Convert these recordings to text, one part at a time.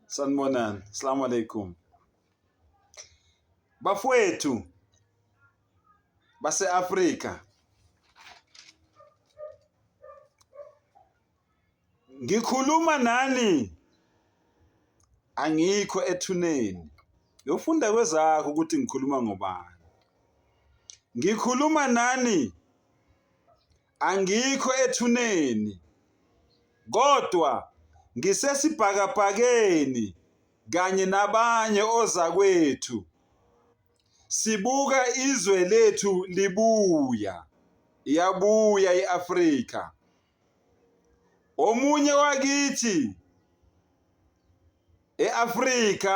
Sanibonani. Assalamu alaikum. Bafowethu base-Afrika ngikhuluma nani angikho ethuneni yofunda kwezakho ukuthi ngikhuluma ngobani ngikhuluma nani Angikho ethuneni kodwa ngisesibhakabhakeni kanye nabanye ozakwethu sibuka izwe lethu libuya, iyabuya i-Afrika. Omunye wakithi e-Afrika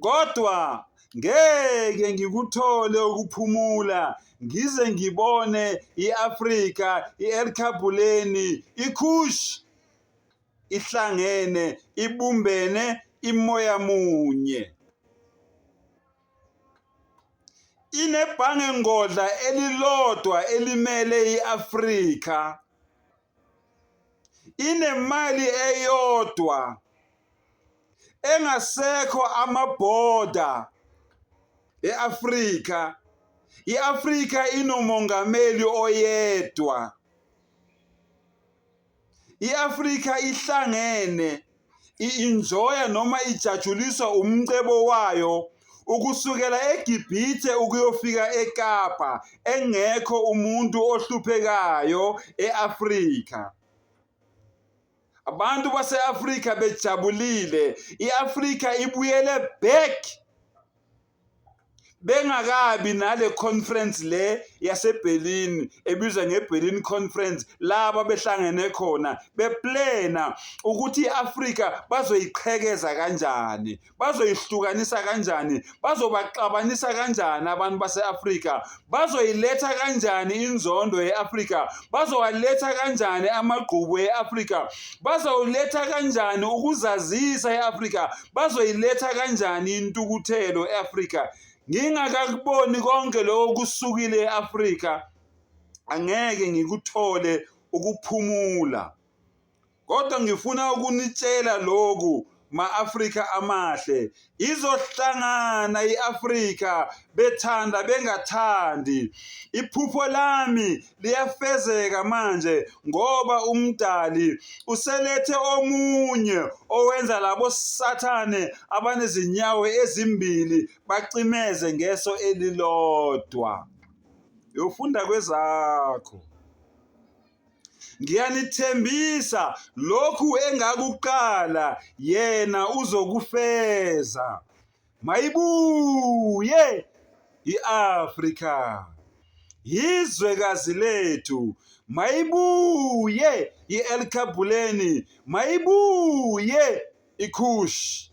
kodwa ngeke ngikuthole ukuphumula ngize ngibone i-Afrika i-Erkabuleni iKush ihlangene ibumbene imoya munye inebhange ngodla elilodwa elimele i-Afrika inemali eyodwa engasekho amabhoda e-Afrika i-Afrika inomongameli oyedwa i-Afrika ihlangene i-enjoya noma ijatshuliswa umcebo wayo ukusukela eGibhithe ukuyofika eKapa engekho umuntu ohluphekayo e-Afrika. Abantu base-Afrika bejabulile, i-Afrika ibuyele back bengakabi nale conference le yaseBerlin ebizwa ngeBerlin conference laba behlangene khona beplena ukuthi iAfrika bazoyiqhekeza kanjani bazoyihlukanisa kanjani bazobaxabanisa kanjani abantu baseAfrika bazoyiletha kanjani inzondo yeAfrika bazowaletha kanjani amagqubu eAfrika bazoletha kanjani ukuzazisa eAfrika bazoyiletha kanjani intukuthelo e-afrika ngingakakuboni konke lokho kusukile e-afrika angeke ngikuthole ukuphumula kodwa ngifuna ukunitshela lokhu ma-afrika amahle izohlangana i-afrika bethanda bengathandi iphupho lami liyafezeka manje ngoba umdali uselethe omunye owenza labo sathane abanezinyawo ezimbili bacimeze ngeso elilodwa yofunda kwezakho ngiyanithembisa lokhu engakuqala yena uzokufeza Mayibuye iAfrika. Yizwekazi lethu. Mayibuye iElkabuleni. Mayibuye iKhush.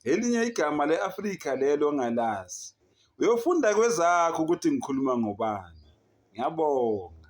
Elinye igama leAfrika lelo ngalazi. Uyofunda kwezakho ukuthi ngikhuluma ngobani. Ngiyabonga.